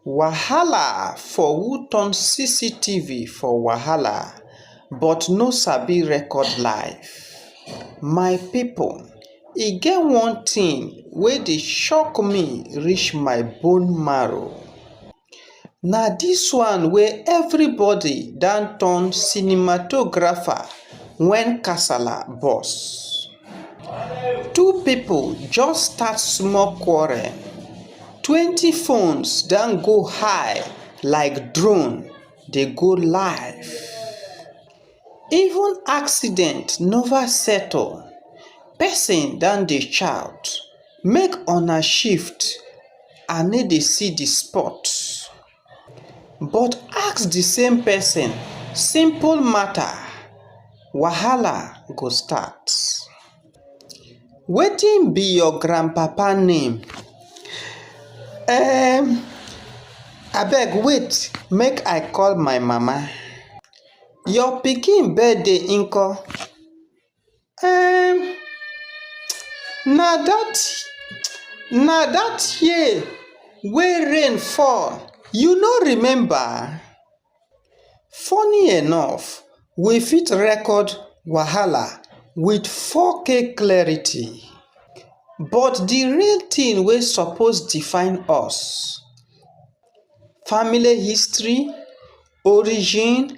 wahala for who turn cctv for wahala but no sabi record live my pipo e get one tin wey dey shock me reach my bone marrow na dis one wey everybody don turn cinematographer wen kasala burst two people just start small quarreltwentyphones don go high like drone dey go live even accident nova settle person don dey shout make una shift i no dey see the spot But ask di same pesin simple mata, wahala go start. Wetin be your grandpapa name? um Abeg wait make I call my mama. Your pikin birthday nko? um na that na that year wey rain fall you no remember? funny enough we fit record wahala with 4k clarity but the real thing wey suppose define us—family history origin.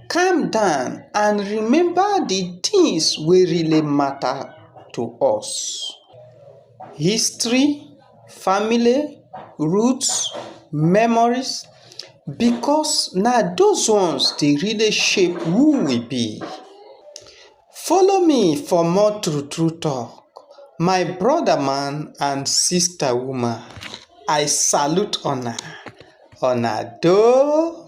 calm down and remember the things wey really matter to us — history family roots memories — because na those ones dey really shape who we be. follow me for more true true talk my brother man and sister woman i salute una una doh.